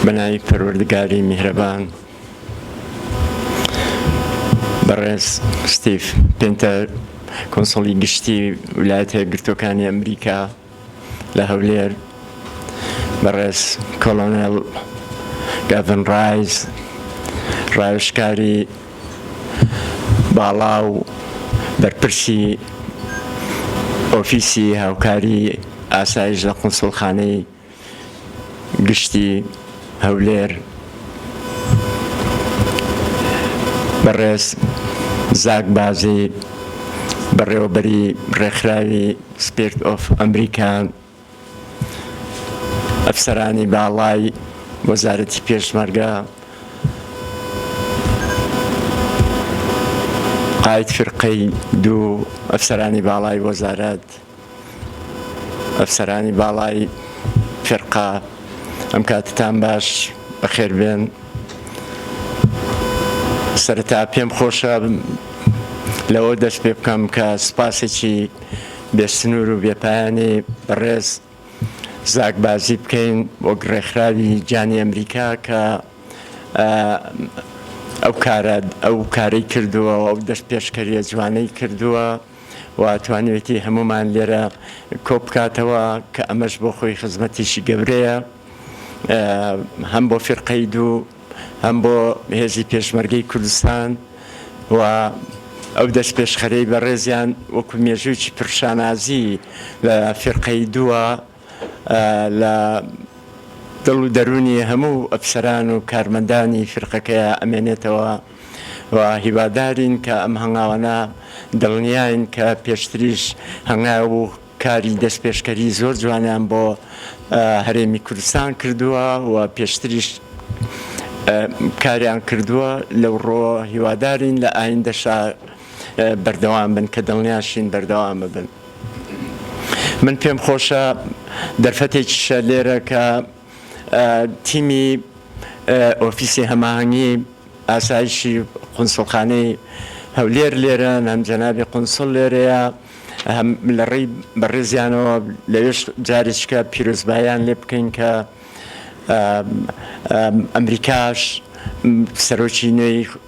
بەناوی پەروەردگاری میهرەبان بەڕێز ستیف پێنتەر کۆنسڵی گشتی ویلایەتە گرتوەکانی ئەمریکا لە هەولێر بەڕێز کۆڵۆنێڵ گاڤن ڕایز ڕاوێژکاری باڵا و بەرپرسی ئۆفیسی هاوکاری ئاسایش لە قونسوڵخانەی گشتی هەولێر بەڕێز زاک بازی بەڕێوەبەری ڕێکخراوی سپرد ئۆف ئەمریکا ئەفسەرانی باڵای وەزارەتی پێشمەرگە قایت فرقەی دوو ئەفسەرانی باڵای وەزارەت ئەفسەرانی باڵای فیرقە ئەم کاتتان باش بەخێربێن سەرەتا پێم خۆشە لەوە دەست پێ بکەم کە سپاسێکی بێسنوور و بێپایانی ڕێز زاکبازی بکەین وەک ڕێکخراوی گیانی ئەمریکا کە ئەو کارە ئەو کارەی کردووە ئەو دەست پێشکەریە جوانەی کردووە و توانیویەتی هەموومان لێرە کۆبکاتەوە کە ئەمەش بۆ خۆی خزمەتێکی گەورەیە هەم بۆ فیرقەی دوو هەم بۆ هێزی پێشمەرگەی کوردستان و ئەو دەست پێشخەرەی بەڕێزیان وەکو مێژوویی پرشانازی لە فیرقەی دووە لە دڵ و دەروونی هەموو ئەفسەران و کارمەندانی فیرقەکەیا ئەمێنێتەوە و هیوادارین کە ئەم هەنگاوانە دڵنیاین کە پێشتریش هەنگاو و کاری دەستپێشکەری زۆر جوانیان بۆ هەرێمی کوردستان کردووە و پێشتریش کاریان کردووە لەو ڕووەوە هیوادارین لە ئایندەشا بەردەوام بن کە دڵنیاشین بەردەوام بن. من پێم خۆشە دەرفەتێکیشە لێرە کە تیمی ئۆفیسی هەماهەنگی ئاسایشی قونسڵخانەی هەولێر لێرەن، هەم جەنابی قونسڵ لێرەیە، هەم لە ڕێی بەڕێزیانەوە لەوێش جارێکیکە پیرۆزباییان لێ بکەین کە ئەمریکاش سەرۆکی نوێی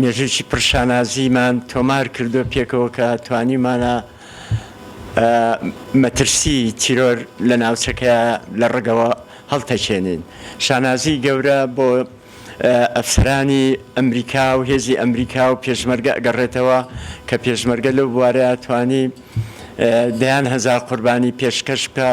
مێژوویکی پڕ شانازیمان تۆمار کردووە پێکەوە کە توانیومانە مەترسی تیرۆر لە ناوچەکە لە ڕەگەوە هەڵتەکێنین. شانازیی گەورە بۆ ئەفسەرانی ئەمریکا و هێزی ئەمریکا و پێشمەرگە ئەگەڕێتەوە کە پێشمەرگە لەو بوارەیە توانی دەیان هەزار قوربانی پێشکەش بکا.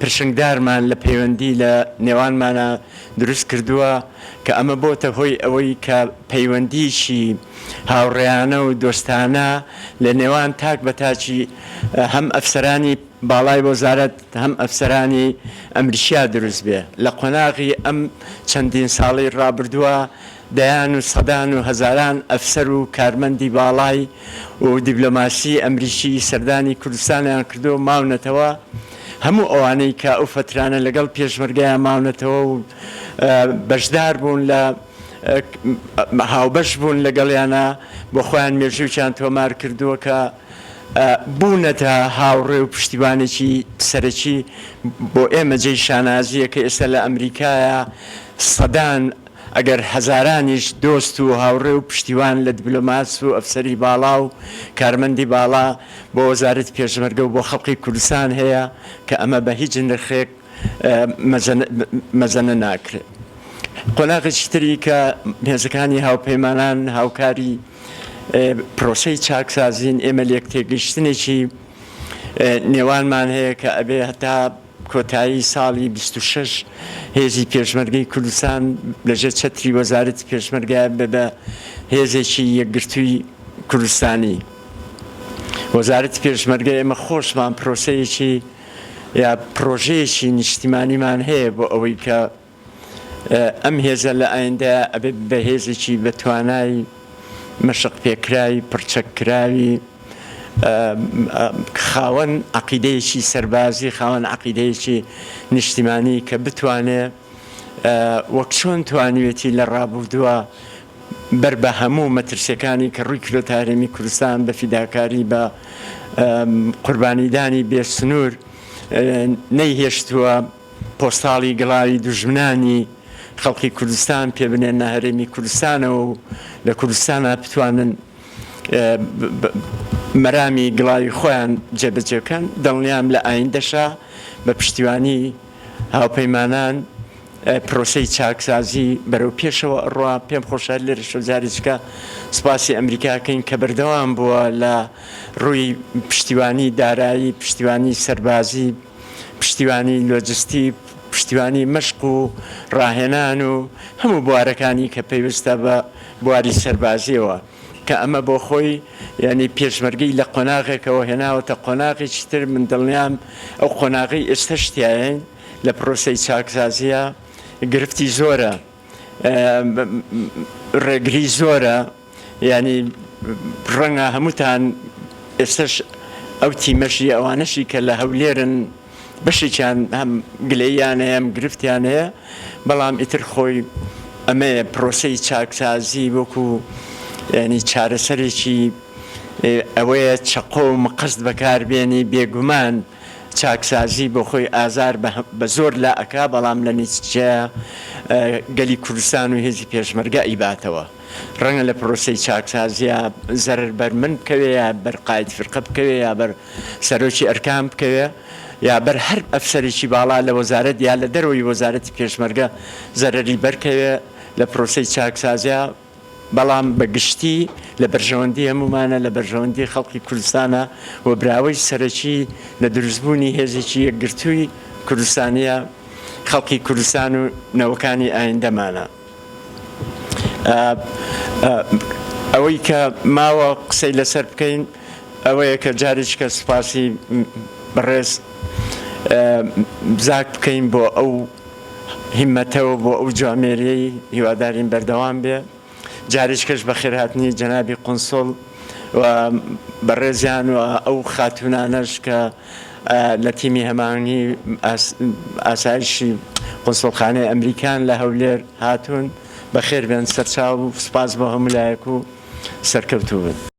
پرشنگدارمان لە پەیوەندی لە نێوانمانا دروست کردووە کە ئەمە بۆتە هۆی ئەوەی کە پەیوەندییەکی هاوڕێیانە و دۆستانە لە نێوان تاک بە تاکی هەم ئەفسەرانی باڵای وەزارەت هەم ئەفسەرانی ئەمریکیا دروست بێ لە قۆناغی ئەم چەندین ساڵەی ڕابردووە دەیان و سەدان و هەزاران ئەفسەر و کارمەندی باڵای و دیبلۆماسی ئەمریکی سەردانی کوردستانیان کردووە و ماونەتەوە، هەموو ئەوانەی کە ئەو فەترانە لەگەڵ پێشمەرگەیان ماونەتەوە و بەشداربوون لە هاوبەش بوون لەگەڵیانا بۆ خۆیان مێژوویکیان تۆمار کردووە کە بوونەتە هاوڕێ و پشتیوانێکی سەرەکی بۆ ئێمە جێی شانازییە کە ئێستا لە ئەمریکایە سەدان ئەگەر هەزارانیش دۆست و هاوڕێ و پشتیوان لە دبلۆماس و ئەفسەری باڵا و کارمەندی باڵا بۆ وەزارەتی پێشمەرگە و بۆ خەڵقی کوردستان هەیە کە ئەمە بە هیچ نرخێک مەزەنە ناکرێت. قۆناغێکی تری کە هێزەکانی هاوپەیمانان هاوکاری پرۆسەی چاکسازین ئێمە لێکتێگەیشتنێکی نێوانمان هەیە کە ئەبێ هەتا کۆتایی ساڵی بیست و شەش هێزی پێشمەرگەی کوردستان لەژێر چەتری وەزارەتی پێشمەرگەیە بە بە هێزێکی یەکگرتووی کوردستانی وەزارەتی پێشمەرگە ئێمە خۆشمان پرۆسەیەکی یا پرۆژەیەکی نیشتیمانیمان هەیە بۆ ئەوەی کە ئەم هێزە لە ئایندەیا ئەبێ بە هێزێکی بە توانای مەشق پێکراوی پڕچەک کراوی خاوەن عقیدەیەکی سەربازی خاوەن عقیدەیەکی نیشتیمانی کە بتوانێ وەک چۆن توانیوێتی لە ڕابوردووە بەر بە هەموو مەترسیەکانی کە ڕووی کرۆتە هەرێمی کوردستان بە فیداکاری بە قوربانیدانی بێ سنوور نەیهێشتووە پۆستاڵی گڵاوی دوژمنانی خەڵقی کوردستان پێ بنێنە هەرێمی کوردستانەوە و لە کوردستانا بتوانن مەرامی گڵاوی خۆیان جێبەجێ بکەن دڵنیام لە ئایندەشا بە پشتیوانی هاوپەیمانان پرۆسەی چاکسازی بەرەو پێشەوە ئەڕوا پێم خۆشە لێرەشە جاریچکە سپاسی ئەمریکاکەین کە بەردەوام بووە لە ڕووی پشتیوانی دارایی پشتیوانی سەربازی پشتیوانی لۆجستی، پشتیوانی مەشق و ڕاهێنان و هەموو بوارەکانی کە پەیوەستە بە بواری سەربازییەوە، کە ئەمە بۆ خۆی یانی پێشمەرگەی لە قۆناغێکەوە هێناوەتە قۆناغێکی تر، من دڵنیام ئەو قۆناغەی ئێستەش تیایین لە پرۆسەی چاکسازییە گرفتی زۆرە. ڕێگری زۆرە یانی ڕەنگە هەمووتان ئێستەش ئەو تیمەشی ئەوانەشی کە لە هەولێرن بەشێکیان هەم گلەییان هەیە هەم گرفتیان هەیە بەڵام ئیتر خۆی ئەمەیە پرۆسەی چاکسازی وەکو یانی چارەسەرێکی ئەوەیە چەقۆ و مقەست بەکاربێنی بێگومان چاکسازی بۆخۆی ئازار بە زۆر لا ئەکا بەڵام لە نیتچەیا گەلی کوردستان و هێزی پێشمەرگە ئەیباتەوە ڕەنگە لە پرۆسەی چاکسازیا زەرەر بەر من بکەوێ یا بەر قاید فرقە بکەوێ یا بەر سەرۆکی ئەرکان بکەوێ یا بەر هەر ئەفسەرێکی باڵا لە وەزارەت یا لە دەرەوەی وەزارەتی پێشمەرگە زەرەری بەر کەوێ لە پرۆسەی چاکسازیا بەڵام بە گشتی لە بەرژەوەندی هەموومانە، لە بەرژەوەندی خەڵقی کوردستانە و براوەی سەرەکی لە دروستبوونی هێزێکی یەکگرتووی کوردستانییە خەڵکی کوردستان و نەوەکانی ئایندەمانە. ئەوەی کە ماوە قسەی لەسەر بکەین ئەوەیە کە جارێکیکە سوپاسی بەڕێز زاک بکەین بۆ ئەو. هیمەتەوە بۆ ئەو جوامێریەی هیوادارین بەردەوام بێ جاریشکەش بەخێرهاتنی جەنابی قونسڵ و بەڕێزیان و ئەو خاتوونانەش کە لە تیمی هەماهەنگی ئاسایشی قونسڵخانەی ئەمریکان لە هەولێر هاتوون بەخێربێن سەرچاو و سوپاس بۆ هەموو لایەک و سەرکەوتوو بن.